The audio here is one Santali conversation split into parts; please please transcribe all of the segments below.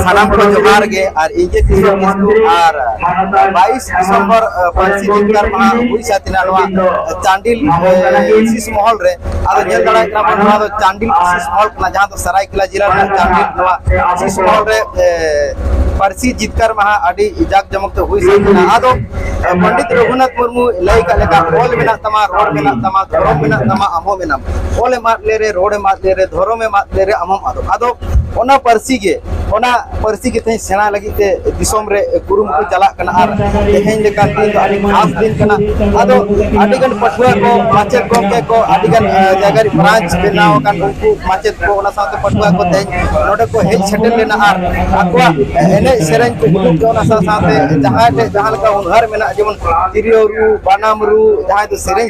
ᱥᱟᱱᱟᱢ ᱠᱚ ᱡᱚᱦᱟᱨ ᱜᱮ ᱟᱨ ᱤᱧ ᱜᱮ ᱠᱤᱥᱠᱩ ᱟᱨ 22 ᱰᱤᱥᱮᱢᱵᱚᱨ ᱯᱟᱹᱨᱥᱤ ᱡᱤᱛᱠᱟᱨ ᱢᱟᱦᱟ ᱦᱩᱭ ᱥᱟᱹᱛᱤᱱᱟ ᱱᱚᱣᱟ ᱪᱟᱱᱰᱤᱞ ᱥᱤᱥ ᱢᱚᱦᱚᱞ ᱨᱮ ᱟᱫᱚ ᱧᱮᱞ ᱫᱟᱲᱮᱭᱟᱜ ᱠᱟᱱᱟ ᱵᱚᱱ ᱱᱚᱣᱟ ᱫᱚ ᱪᱟᱱᱰᱤᱞ ᱥᱤᱥ ᱢᱚᱦᱚᱞ ᱠᱟᱱᱟ ᱡᱟᱦᱟᱸ ᱫᱚ ᱥᱟᱨᱟᱭᱠᱮᱞᱟ ᱡᱮᱞᱟ ᱨᱮᱱᱟᱜ ᱪᱟᱱᱰᱤᱞ ᱱᱚᱣᱟ ᱥᱤᱥ ᱢᱚᱦᱚᱞ ᱨᱮ ᱯᱟᱹᱨᱥᱤ ᱡᱤᱛᱠᱟᱨ ᱢᱟᱦᱟ ᱟᱹᱰᱤ ᱡᱟᱠ ᱡᱚᱢᱚᱠ ᱛᱮ ᱦᱩᱭ ᱥᱟᱹᱛᱤᱱᱟ ᱟᱫᱚ ᱯᱚᱱᱰᱤᱛ ᱨᱚᱜᱷᱩᱱᱟᱛᱷ ᱢᱩᱨᱢᱩ ᱞᱟᱹᱭ ᱠᱟᱜ ᱞᱮᱠᱟ ᱚᱞ ᱢᱮᱱᱟᱜ ᱛᱟᱢᱟ ᱨᱚᱲ ᱢᱮᱱᱟᱜ ᱛᱟᱢᱟ ᱫᱷᱚᱨᱚᱢ ᱢᱮᱱᱟᱜ ᱛᱟᱢᱟ ᱟᱢ ᱦᱚᱸ ᱢᱮᱱᱟᱢ ᱚᱞ ᱮᱢ ᱟᱫ ᱞᱮᱨᱮ ᱨᱚᱲ ᱮᱢ ᱟᱫ ᱞᱮᱨᱮ ᱫᱷᱚᱨᱚᱢ ᱮᱢ ᱟᱫ ᱞᱮᱨᱮ ᱟᱢ ᱦᱚᱸᱢ ᱟᱫᱚᱜ ᱟᱫᱚ ᱚᱱᱟ ᱯᱟᱹᱨᱥᱤ ᱜᱮ ᱚᱱᱟ ᱯᱟᱹᱨᱥᱤ ᱜᱮ ᱛᱮᱦᱮᱧ ᱥᱮᱬᱟ ᱞᱟᱹᱜᱤᱫ ᱛᱮ ᱫᱤᱥᱚᱢ ᱨᱮ ᱠᱩᱨᱩᱢᱩᱴᱩ ᱪᱟᱞᱟᱜ ᱠᱟᱱᱟ ᱟᱨ ᱛᱮᱦᱮᱧ ᱞᱮᱠᱟ ᱫᱤᱱ ᱫᱚ ᱟᱹᱰᱤ ᱠᱷᱟᱥ ᱫᱤᱱ ᱠᱟᱱᱟ ᱟᱫᱚ ᱟᱹᱰᱤ ᱜᱟᱱ ᱯᱟᱹᱴᱷᱩᱣᱟᱹ ᱠᱚ ᱢᱟᱪᱮᱫ ᱜᱚᱢᱠᱮ ᱠᱚ ᱟᱹᱰᱤ ᱜᱟᱱ ᱡᱟᱭᱜᱟ ᱨᱮ ᱵᱨᱟᱧᱪ ᱵᱮᱱᱟᱣ ᱟᱠᱟᱱ ᱩᱱᱠᱩ ᱢᱟᱪᱮᱫ ᱠᱚ ᱚᱱᱟ ᱥᱟᱶᱛᱮ ᱯᱟᱹᱴᱷᱩᱣᱟᱹ ᱠᱚ ᱛᱮᱦᱮᱧ ᱱᱚᱰᱮ ᱠᱚ ᱦᱮᱡ ᱥᱮᱴᱮᱨ ᱞᱮᱱᱟ ᱟᱨ ᱟᱠᱚᱣᱟᱜ ᱮᱱᱮᱡ ᱥᱮᱨᱮᱧ ᱠᱚ ᱩᱫᱩᱜ ᱠᱮᱫᱟ ᱚᱱᱟ ᱥᱟᱶ ᱥᱟᱶᱛᱮ ᱡᱟᱦᱟᱸᱭ ᱴᱷᱮᱡ ᱡᱟᱦᱟᱸ ᱞᱮᱠᱟ ᱦᱩᱱᱟᱹᱨ ᱢᱮᱱᱟᱜ ᱡᱮᱢᱚᱱ ᱛᱤᱨᱭᱳ ᱨᱩ ᱵᱟᱱᱟᱢ ᱨᱩ ᱡᱟᱦᱟᱸᱭ ᱫᱚ ᱥᱮᱨᱮᱧ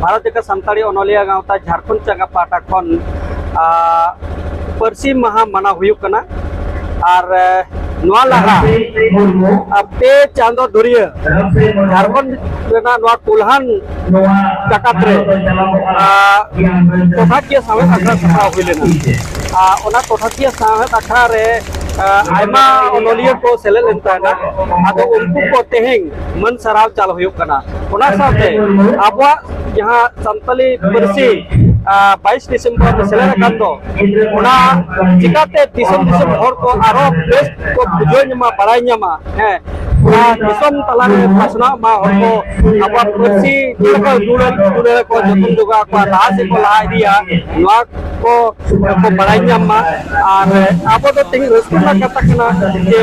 ᱵᱷᱟᱨᱚᱛ ᱡᱟᱠᱟᱛ ᱥᱟᱱᱛᱟᱲᱤ ᱚᱱᱚᱞᱤᱭᱟᱹ ᱜᱟᱶᱛᱟ ᱡᱷᱟᱲᱠᱷᱚᱸᱰ ᱪᱟᱸᱜᱟ ᱯᱟᱦᱴᱟ ᱠᱷᱚᱱ ᱯᱟᱹᱨᱥᱤ ᱢᱟᱦᱟ ᱢᱟᱱᱟᱣ ᱦᱩᱭᱩᱜ ᱠᱟᱱᱟ ᱟᱨ ᱱᱚᱣᱟ ᱞᱟᱦᱟ ᱯᱮ ᱪᱟᱸᱫᱚ ᱫᱷᱩᱨᱤᱭᱟᱹ ᱡᱷᱟᱲᱠᱷᱚᱸᱰ ᱨᱮᱱᱟᱜ ᱱᱚᱣᱟ ᱠᱩᱞᱦᱟᱱ ᱡᱟᱠᱟᱛ ᱨᱮ ᱴᱚᱴᱷᱟᱠᱤᱭᱟᱹ ᱥᱟᱶᱦᱮᱫ ᱟᱠᱷᱲᱟ ᱥᱟᱯᱲᱟᱣ ᱦᱩᱭ ᱞᱮᱱᱟ ᱚᱱᱟ ᱴᱚᱴᱷᱟᱠᱤᱭᱟᱹ ᱥᱟᱶᱦᱮᱫ ᱟᱠᱷᱲᱟ ᱨᱮ ᱟᱭᱢᱟ ᱚᱱᱚᱞᱤᱭᱟᱹ ᱠᱚ ᱥᱮᱞᱮᱫ ᱞᱮᱱ ᱛᱟᱦᱮᱱᱟ ᱟᱫᱚ ᱩᱱᱠᱩ ᱠᱚ ᱛᱮᱦᱮᱧ ᱢᱟᱹᱱ ᱥᱟᱨᱦᱟᱣ ᱪᱟᱞ ᱦᱩᱭᱩᱜ ᱠᱟᱱᱟ ᱚᱱᱟ ᱥᱟᱶᱛᱮ ᱟᱵᱚᱣᱟᱜ ᱡᱟᱦᱟᱸ ᱥᱟᱱᱛᱟᱞᱤ ᱯᱟᱹᱨᱥᱤ ᱵᱟᱭᱤᱥ ᱰᱤᱥᱮᱢᱵᱚᱨ ᱨᱮ ᱥᱮᱞᱮᱫ ᱟᱠᱟᱱ ᱫᱚ ᱚᱱᱟ ᱪᱤᱠᱟᱛᱮ ᱫᱤᱥᱚᱢ ᱫᱤᱥᱚᱢ ᱦᱚᱲ ᱠᱚ ᱟᱨᱚ ᱵᱮᱥ ᱠᱚ ᱵᱩᱡᱷᱟᱹᱣ ᱧᱟᱢᱟ ᱵᱟᱲᱟᱭ ᱧᱟᱢᱟ ᱦᱮᱸ ᱫᱤᱥᱚᱢ ᱛᱟᱞᱟᱨᱮ ᱯᱟᱥᱱᱟᱜ ᱢᱟ ᱦᱚᱲ ᱠᱚ ᱟᱵᱚᱣᱟᱜ ᱯᱟᱹᱨᱥᱤ ᱪᱮᱫ ᱞᱮᱠᱟ ᱫᱩᱞᱟᱹᱲ ᱫᱩᱞᱟᱹᱲ ᱠᱚ ᱡᱚᱛᱚᱱ ᱡᱚᱜᱟᱣ ᱠᱚᱣᱟ ᱞᱟᱦᱟ ᱥᱮᱫ ᱠᱚ ᱞᱟᱦᱟ ᱤᱫᱤᱭᱟ ᱱᱚᱣᱟ ᱠᱚ ᱵᱟᱲᱟᱭ ᱧᱟᱢ ᱢᱟ ᱟᱨ ᱟᱵᱚ ᱫᱚ ᱛᱮᱦᱮᱧ ᱨᱟᱹᱥᱠᱟᱹ ᱨᱮᱱᱟᱜ ᱠᱟᱛᱷᱟ ᱠᱟᱱᱟ ᱡᱮ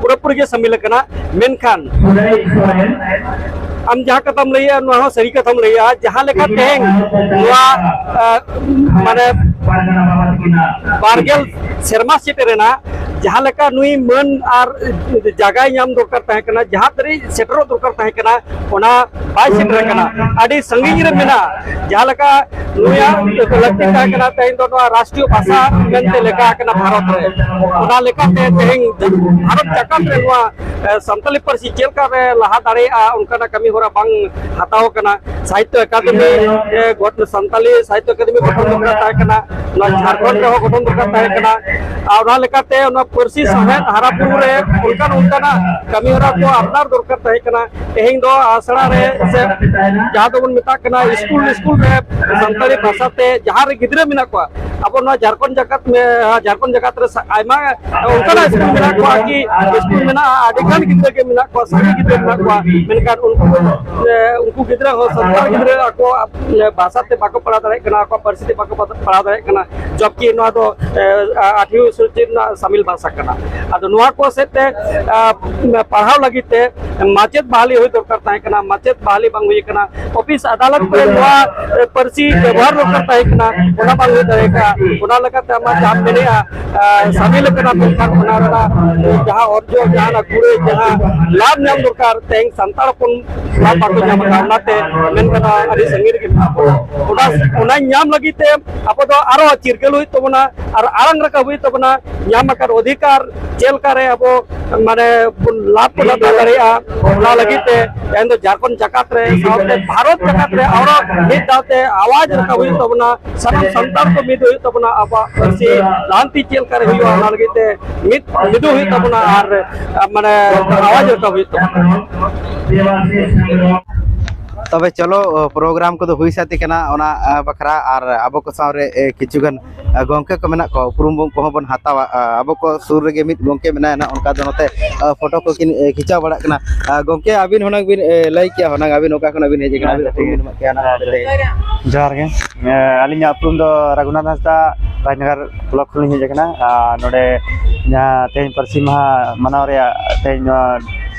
ᱯᱩᱨᱟᱹᱯᱩᱨᱤ ᱜᱮ ᱥᱟᱢᱤᱞ ᱟᱠᱟᱱᱟ ᱢᱮᱱᱠᱷᱟᱱ ᱟᱢ ᱡᱟᱦᱟᱸ ᱠᱟᱛᱷᱟᱢ ᱞᱟᱹᱭᱟ ᱱᱚᱣᱟ ᱦᱚᱸ ᱥᱟᱹᱨᱤ ᱠᱟᱛᱷᱟᱢ ᱞᱟᱹᱭᱟ ᱡᱟᱦᱟᱸ ᱞᱮᱠᱟ ᱛᱮᱦᱮᱧ ᱱᱚᱣᱟ ᱢᱟᱱᱮ ᱵᱟᱨᱜᱮᱞ ᱥᱮᱨᱢᱟ ᱥᱮᱴᱮᱨ ᱮᱱᱟ ᱡᱟᱦᱟᱸ ᱞᱮᱠᱟ ᱱᱩᱭ ᱢᱟᱹᱱ ᱟᱨ ᱡᱟᱭᱜᱟᱭ ᱧᱟᱢ ᱫᱚᱨᱠᱟᱨ ᱛᱟᱦᱮᱸ ᱠᱟᱱᱟ ᱡᱟᱦᱟᱸ ᱫᱷᱟᱹᱨᱤᱡ ᱥᱮᱴᱮᱨᱚᱜ ᱫᱚᱨᱠᱟᱨ ᱛᱟᱦᱮᱸ ᱠᱟᱱᱟ ᱚᱱᱟ ᱵᱟᱭ ᱥᱮᱴᱮᱨ ᱟᱠᱟᱱᱟ ᱟᱹᱰᱤ ᱥᱟᱺᱜᱤᱧ ᱨᱮ ᱢᱮᱱᱟᱜᱼᱟ ᱡᱟᱦᱟᱸ ᱞᱮᱠᱟ ᱱᱩᱭᱟᱜ ᱞᱟᱹᱠᱛᱤ ᱛᱟᱦᱮᱸ ᱠᱟᱱᱟ ᱛᱮᱦᱮᱧ ᱫᱚ ᱱᱚᱣᱟ ᱨᱟᱥᱴᱨᱤᱭᱚ ᱵᱷᱟᱥᱟ ᱢᱮᱱᱛᱮ ᱞᱮᱠᱟ ᱟᱠᱟᱱᱟ ᱵᱷᱟᱨᱚᱛ ᱨᱮ ᱚᱱᱟ ᱞᱮᱠᱟᱛᱮ ᱛᱮᱦᱮᱧ ᱵᱷᱟᱨᱚᱛ ᱡᱟᱠᱟᱛ ᱨᱮ ᱱᱚᱣᱟ ᱥᱟᱱᱛᱟᱞᱤ ᱯᱟᱹᱨᱥᱤ ᱪᱮᱫ ᱞᱮᱠᱟ ᱨᱮ ᱞᱟᱦᱟ ᱫᱟᱲᱮᱭᱟᱜᱼᱟ ᱚᱱᱠᱟᱱᱟᱜ ᱠᱟᱹᱢᱤ ᱦᱚᱨᱟ ᱵᱟᱝ ᱦᱟᱛᱟᱣ ᱠᱟᱱᱟ ᱥᱟᱦᱤᱛᱭᱚ ᱟᱠᱟᱫᱮᱢᱤ ᱥᱟᱱᱛᱟᱞᱤ ᱥᱟᱦᱤᱛᱭᱚ ᱟᱠᱟᱫᱮᱢᱤ ᱜᱚᱴᱷᱚᱱ ᱫᱚᱨᱠᱟᱨ ᱛᱟᱦᱮᱸ ᱠᱟᱱᱟ ᱱᱚᱣᱟ ᱡᱷᱟᱲᱠᱷᱚᱸᱰ ᱨᱮᱦᱚᱸ ᱜᱚᱴᱷᱚᱱ ᱫᱚᱨᱠᱟᱨ ᱛᱟᱦᱮᱸ ᱠᱟᱱᱟ ᱟᱨ ᱚᱱᱟ ᱞᱮᱠᱟᱛᱮ ᱚᱱᱟ ᱯᱟᱹᱨᱥᱤ ᱥᱟᱶᱦᱮᱫ ᱦᱟᱨᱟ ᱵᱩᱨᱩ ᱨᱮ ᱚᱱᱠᱟᱱ ᱚᱱᱠᱟᱱᱟᱜ ᱠᱟᱹᱢᱤ ᱦᱚᱨᱟ ᱠᱚ ᱟᱯᱱᱟᱨ ᱫᱚᱨᱠᱟᱨ ᱛᱟᱦᱮᱸ ᱠᱟᱱᱟ ᱛᱮᱦᱮᱧ ᱫᱚ ᱟᱥᱲᱟ ᱨᱮ ᱥᱮ ᱡᱟᱦᱟᱸ ᱫᱚᱵᱚᱱ ᱢᱮᱛᱟᱜ ᱠᱟᱱᱟ ᱥᱠᱩᱞ ᱥᱠᱩᱞ ᱨᱮ ᱥᱟᱱᱛᱟᱲᱤ ᱵᱷᱟᱥᱟ ᱛᱮ ᱡᱟᱦᱟᱸ ᱨᱮ ᱜᱤᱫᱽᱨᱟᱹ ᱢᱮᱱᱟᱜ ᱠᱚᱣᱟ ᱟᱵᱚ ᱱᱚᱣᱟ ᱡᱷᱟᱲᱠᱷᱚᱸᱰ ᱡᱟᱠᱟᱛ ᱡᱷᱟᱲᱠᱷᱚᱸᱰ ᱡᱟᱠᱟᱛ ᱨᱮ ᱟᱭᱢᱟ ᱚᱱᱠᱟᱱᱟᱜ ᱥᱠᱩᱞ ᱢᱮᱱᱟᱜ ᱠᱚᱣᱟ ᱠᱤ ᱥᱠᱩᱞ ᱢᱮᱱᱟᱜᱼᱟ ᱟᱹᱰᱤ ᱜᱟᱱ ᱜᱤᱫᱽᱨᱟᱹ ᱜᱮ ᱢᱮᱱᱟᱜ ᱠᱚᱣᱟ ᱥᱟᱸᱜᱮ ᱜᱤᱫᱽᱨᱟᱹ ᱢᱮᱱᱟᱜ ᱠᱚᱣᱟ ᱢᱮᱱᱠᱷᱟᱱ ᱩᱱᱠᱩ ᱩᱱᱠᱩ ᱜᱤᱫᱽᱨᱟᱹ ᱦᱚᱸ ᱥᱟᱱᱛᱟᱲ ᱜᱤᱫᱽᱨᱟᱹ ᱟᱠᱚ ᱵᱷᱟᱥᱟ ᱛᱮ ᱵᱟᱠᱚ ᱯᱟᱲᱦᱟᱣ ᱫᱟᱲᱮᱭᱟᱜ ᱠᱟᱱᱟ ᱟᱠᱚᱣᱟᱜ ᱯᱟᱹᱨᱥᱤ ᱛᱮ ᱵᱟᱠᱚ ᱯᱟᱲᱦᱟᱣ ᱫᱟᱲᱮᱭᱟᱜ ᱠᱟᱱᱟ ᱡᱚᱵᱠᱤ ᱱᱚᱣᱟ ᱫᱚ ᱟᱴᱷᱮᱨᱚ ᱥᱚᱪᱤ ᱨᱮᱱᱟᱜ ᱥᱟᱢᱤᱞ ᱵᱷᱟᱥᱟ ᱠᱟᱱᱟ ᱟᱫᱚ ᱱᱚᱣᱟ ᱠᱚ ᱥᱮᱫ ᱛᱮ ᱯᱟᱲᱦᱟᱣ ᱞᱟᱹᱜᱤᱫ ᱛᱮ ᱢᱟᱪᱮᱫ ᱵᱟᱦᱟᱞᱤ ᱦᱩᱭ ᱫᱚᱨᱠᱟᱨ ᱛᱟᱦᱮᱸ ᱠᱟᱱᱟ ᱢᱟᱪᱮᱫ ᱵᱟᱦᱟᱞᱤ ᱵᱟᱝ ᱦᱩᱭ ᱠᱟᱱᱟ ᱚᱯᱷᱤᱥ ᱟᱫᱟᱞᱚᱛ ᱠᱚᱨᱮ ᱱᱚᱣᱟ ᱯᱟᱹᱨᱥᱤ ᱵᱮᱵᱚᱦᱟᱨ ᱫᱚᱨᱠᱟᱨ ᱛᱟᱦᱮᱸ ᱠᱟᱱᱟ ᱚᱱᱟ ᱵᱟᱝ ᱦᱩᱭ ᱫᱟᱲᱮ ᱠᱟᱜᱼᱟ ᱚᱱᱟ ᱞᱮᱠᱟᱛᱮ ᱟᱢᱟᱜ ᱡᱟᱦᱟᱸ ᱢᱮᱱᱮᱜᱼᱟ ᱥᱟᱢᱤᱞ ᱠᱟᱱᱟ ᱢᱮᱱᱠᱷᱟᱱ ᱚᱱᱟ ᱨᱮᱱᱟᱜ ᱡᱟᱦᱟᱸ ᱚᱨᱡᱚ ᱡᱟᱦᱟᱸ ᱠᱩᱲᱟᱹᱭ ᱡᱟᱦᱟᱸ ᱞᱟᱵᱷ ᱧᱟᱢ ᱫᱚᱨᱠᱟᱨ ᱛᱮᱦᱮᱧ ᱥᱟᱱᱛᱟᱲ ᱦᱚᱯᱚᱱ ᱞᱟᱵᱷ ᱵᱟᱠᱚ ᱧᱟᱢ ᱠᱟᱜᱼᱟ ᱚᱱᱟᱛᱮ ᱢᱮᱱ ᱠᱟᱱᱟ ᱟᱹᱰᱤ ᱥᱟᱺᱜᱤᱧ ᱨᱮᱜᱮ ᱢᱮᱱᱟᱜ ᱵᱚᱱᱟ ᱚᱱᱟ ᱚᱱᱟ ᱧᱟᱢ ᱞᱟᱹᱜᱤᱫ ᱛᱮ ᱟᱵᱚ ᱫᱚ ᱟᱨᱚ ᱪᱤᱨᱜᱟᱹᱞ ᱦᱩᱭᱩᱜ ᱛᱟᱵᱚᱱᱟ ᱟᱨ ᱟᱲᱟᱝ ᱨᱟᱠᱟᱵ ᱦᱩᱭᱩᱜ ᱛᱟᱵᱚᱱᱟ ᱧᱟᱢ ᱟᱠᱟᱱ ᱚᱫᱷᱤᱠᱟᱨ ᱪᱮᱫ ᱞᱮᱠᱟᱨᱮ ᱟᱵᱚ ᱢᱟᱱᱮ ᱵᱚᱱ ᱞᱟᱵᱷ ᱵᱚᱱ ᱦᱟᱛᱟᱣ ᱫᱟᱲᱮᱭᱟᱜᱼᱟ ᱚᱱᱟ ᱞᱟᱹᱜᱤᱫ ᱛᱮ ᱛᱮᱦᱮᱧ ᱫᱚ ᱡᱷᱟᱲᱠᱷᱚᱸᱰ ᱡᱟᱠᱟᱛ ᱨᱮ ᱥᱟᱶᱛᱮ ᱵᱷᱟᱨᱚᱛ ᱡᱟᱠᱟᱛ ᱨᱮ ᱟᱨᱚ ᱢᱤᱫ ᱫᱷᱟᱣᱛᱮ ᱟᱣᱟᱡᱽ ᱨᱟᱠᱟᱵ ᱦᱩᱭᱩᱜ ᱛᱟᱵᱚᱱᱟ ᱥᱟᱱᱟᱢ ᱥᱟᱱᱛᱟᱲ ᱠᱚ ᱢᱤᱫ ᱦᱩᱭᱩᱜ ᱛᱟᱵᱚᱱᱟ ᱟᱵᱚᱣᱟᱜ ᱯᱟᱹᱨᱥᱤ ᱞᱟᱦᱟᱱᱛᱤ ᱪᱮᱫ ᱞᱮᱠᱟᱨᱮ ᱦᱩᱭᱩᱜᱼᱟ ᱚᱱᱟ ᱞᱟᱹᱜᱤᱫ ᱛᱮ ᱢᱤᱫ ᱢᱤᱫᱩᱜ ᱦᱩᱭᱩᱜ ᱛᱟᱵᱚᱱᱟ ᱟᱨ ᱢᱟᱱᱮ ᱟᱣᱟᱡᱽ ᱨᱟᱠᱟᱵ ᱦᱩᱭᱩᱜ ᱛᱟᱵᱚᱱᱟ ᱛᱚᱵᱮ ᱪᱚᱞᱚ ᱯᱨᱳᱜᱨᱟᱢ ᱠᱚᱫᱚ ᱦᱩᱭ ᱥᱟᱹᱛ ᱠᱟᱱᱟ ᱚᱱᱟ ᱵᱟᱠᱷᱨᱟ ᱟᱨ ᱟᱵᱚ ᱠᱚ ᱥᱟᱶᱨᱮ ᱠᱤᱪᱷᱩᱜᱟᱱ ᱜᱚᱢᱠᱮ ᱠᱚ ᱢᱮᱱᱟᱜ ᱠᱚᱣᱟ ᱩᱯᱨᱩᱢ ᱠᱚᱦᱚᱸ ᱵᱚᱱ ᱦᱟᱛᱟᱣᱟ ᱟᱵᱚ ᱠᱚ ᱥᱩᱨ ᱨᱮᱜᱮ ᱢᱤᱫ ᱜᱚᱢᱠᱮ ᱢᱮᱱᱟᱭᱟ ᱱᱟᱦᱟᱜ ᱚᱱᱠᱟ ᱫᱚ ᱱᱚᱛᱮ ᱯᱷᱳᱴᱳ ᱠᱚ ᱠᱤᱱ ᱠᱷᱤᱪᱟᱹᱣ ᱵᱟᱲᱟᱜ ᱠᱟᱱᱟ ᱜᱚᱢᱠᱮ ᱟᱹᱵᱤᱱ ᱦᱩᱱᱟᱹᱝ ᱵᱤᱱ ᱞᱟᱹᱭ ᱠᱮᱭᱟ ᱦᱩᱱᱟᱹᱝ ᱟᱹᱵᱤᱱ ᱚᱠᱟ ᱠᱷᱚᱱᱟᱜ ᱵᱤᱱ ᱦᱮᱡ ᱠᱟᱱᱟ ᱡᱚᱦᱟᱨ ᱜᱮ ᱟᱹᱞᱤᱧᱟᱜ ᱩᱯᱨᱩᱢ ᱫᱚ ᱨᱟᱹᱜᱷᱩᱱᱟᱛᱷ ᱦᱟᱸᱥᱫᱟ ᱨᱟᱡᱽᱱᱚᱜᱚᱨ ᱵᱞᱚᱠ ᱠᱷᱚᱱᱞᱤᱧ ᱦᱮᱡ ᱠᱟᱱᱟ ᱟᱨ ᱱᱚᱰᱮ ᱡᱟᱦᱟᱸ ᱛᱮᱦᱮᱧ ᱯᱟᱹᱨᱥᱤ ᱢᱟᱦᱟ ᱢᱟᱱᱟᱣ ᱨᱮᱭᱟᱜ ᱛᱮᱦᱮᱧ ᱱᱚᱣᱟ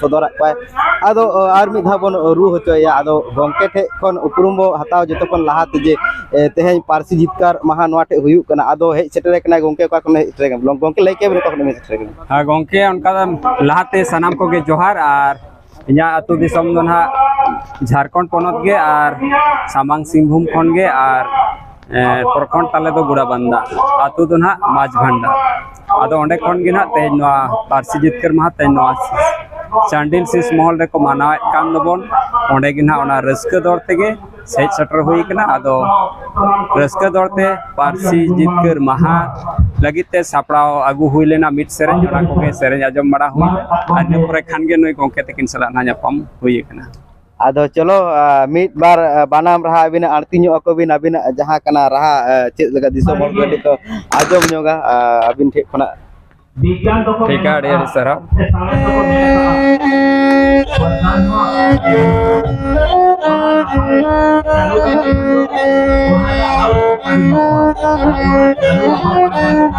ᱥᱚᱫᱚᱨᱟᱫ ᱠᱚᱣᱟᱭ ᱟᱫᱚ ᱟᱨ ᱢᱤᱫ ᱫᱷᱟᱣ ᱵᱚᱱ ᱨᱩ ᱦᱚᱪᱚᱭᱮᱭᱟ ᱟᱫᱚ ᱜᱚᱢᱠᱮ ᱴᱷᱮᱡ ᱠᱷᱚᱱ ᱩᱯᱨᱩᱢ ᱵᱚ ᱦᱟᱛᱟᱣ ᱡᱚᱛᱚ ᱠᱷᱚᱱ ᱞᱟᱦᱟᱛᱮ ᱡᱮ ᱛᱮᱦᱮᱧ ᱯᱟᱹᱨᱥᱤ ᱡᱤᱛᱠᱟᱹᱨ ᱢᱟᱦᱟ ᱱᱚᱣᱟ ᱴᱷᱮᱡ ᱦᱩᱭᱩᱜ ᱠᱟᱱᱟ ᱟᱫᱚ ᱦᱮᱡ ᱥᱮᱴᱮᱨ ᱠᱟᱱᱟᱭ ᱜᱚᱢᱠᱮ ᱚᱠᱟ ᱠᱷᱚᱱ ᱦᱮᱡ ᱥᱮᱴᱮᱨ ᱠᱟᱱᱟ ᱜᱚᱢᱠᱮ ᱞᱟᱹᱭ ᱠᱮᱫ ᱵᱮᱱ ᱚᱠᱟ ᱠᱷᱚᱱ ᱦᱮᱡ ᱥᱮᱴᱮᱨ ᱠᱟᱱᱟ ᱦᱮᱸ ᱜᱚᱢᱠᱮ ᱚᱱᱠᱟ ᱞᱟᱦᱟᱛᱮ ᱥᱟᱱᱟᱢ ᱠᱚᱜᱮ ᱡᱚᱦᱟᱨ ᱟᱨ ᱤᱧᱟᱹᱜ ᱟᱹᱛᱩ ᱫᱤᱥᱚᱢ ᱫᱚ ᱱᱟᱦᱟᱜ ᱡᱷᱟᱲᱠᱷᱚᱸᱰ ᱯᱚᱱᱚᱛ ᱜᱮ ᱟᱨ ᱥᱟᱢᱟᱝ ᱥᱤᱝᱵᱷᱩᱢ ᱠᱷᱚᱱ ᱜᱮ ᱟᱨ ᱯᱨᱚᱠᱷᱚᱸᱰ ᱛᱟᱞᱮ ᱫᱚ ᱜᱳᱲᱟᱵᱟᱱᱫᱟ ᱟᱹᱛᱩ ᱫᱚ ᱱᱟᱦᱟᱜ ᱢᱟᱹᱡᱷᱤ ᱵᱷᱟᱱᱰᱟᱨ ᱟᱫᱚ ᱚᱸᱰᱮ ᱠᱷᱚᱱ ᱜᱮ ᱱᱟᱦᱟᱜ ᱛᱮᱦᱮᱧ ᱱᱚᱣᱟ ᱯᱟᱹᱨᱥᱤ ᱡᱤᱛᱠᱟᱹᱨ ᱢᱟᱦᱟ ᱛᱮᱦᱮᱧ ᱱᱚᱣᱟ ᱪᱟᱱᱰᱤᱞ ᱥᱤᱥ ᱢᱚᱦᱚᱞ ᱨᱮᱠᱚ ᱢᱟᱱᱟᱣᱮᱫ ᱠᱟᱱ ᱫᱚᱵᱚᱱ ᱚᱸᱰᱮ ᱜᱮ ᱱᱟᱦᱟᱜ ᱚᱱᱟ ᱨᱟᱹᱥᱠᱟᱹ ᱫᱚᱲ ᱛᱮᱜᱮ ᱦᱮᱡ ᱥᱮᱴᱮᱨ ᱦᱩᱭ ᱠᱟᱱᱟ ᱟᱫᱚ ᱨᱟᱹᱥᱠᱟᱹ ᱫᱚᱲ ᱛᱮ ᱯᱟᱹᱨᱥᱤ ᱡᱤᱛᱠᱟᱹᱨ ᱢᱟᱦᱟ ᱞᱟᱹᱜᱤᱫ ᱛᱮ ᱥᱟᱯᱲᱟᱣ ᱟᱹᱜᱩ ᱦᱩᱭ ᱞᱮᱱᱟ ᱢᱤᱫ ᱥᱮᱨᱮᱧ ᱚᱱᱟ ᱠᱚᱜᱮ ᱥᱮᱨᱮᱧ ᱟᱸᱡᱚᱢ ᱵᱟᱲᱟ ᱦᱩᱭᱱᱟ ᱟᱨ ᱤᱱᱟᱹ ᱯᱚᱨᱮ ᱠᱷᱟᱱ ᱜᱮ ᱱᱩᱭ ᱜᱚᱢᱠᱮ ᱛᱟᱹᱠᱤᱱ ᱥᱟᱞᱟᱜ ᱱᱟᱦᱟᱜ ᱧᱟᱯᱟᱢ ᱦᱩᱭ ᱠᱟᱱᱟ ᱟᱫᱚ ᱪᱚᱞᱚ ᱢᱤᱫ ᱵᱟᱨ ᱵᱟᱱᱟᱢ ᱨᱟᱦᱟ ᱟᱹᱵᱤᱱᱟᱜ ᱟᱬᱛᱤ ᱧᱚᱜ ᱟᱠᱚ ᱵᱤᱱ ᱟᱹᱵᱤᱱᱟᱜ ᱡᱟᱦᱟᱸ ᱠᱟᱱᱟ ᱨᱟᱦᱟ ᱪᱮᱫ ᱞᱮᱠᱟ ᱫᱤᱥᱚᱢ ᱦᱚᱲ ᱠᱚ ᱠᱟᱹᱴᱤᱡ ᱠᱚ ᱟᱸᱡᱚᱢ ᱧᱚᱜᱟ ᱟᱹᱵᱤᱱ ᱴᱷᱮᱡ ᱠᱷᱚᱱᱟᱜ ᱴᱷᱤᱠ ᱟᱹᱰᱤ ᱟᱹᱰᱤ ᱥᱟᱨᱦᱟᱣ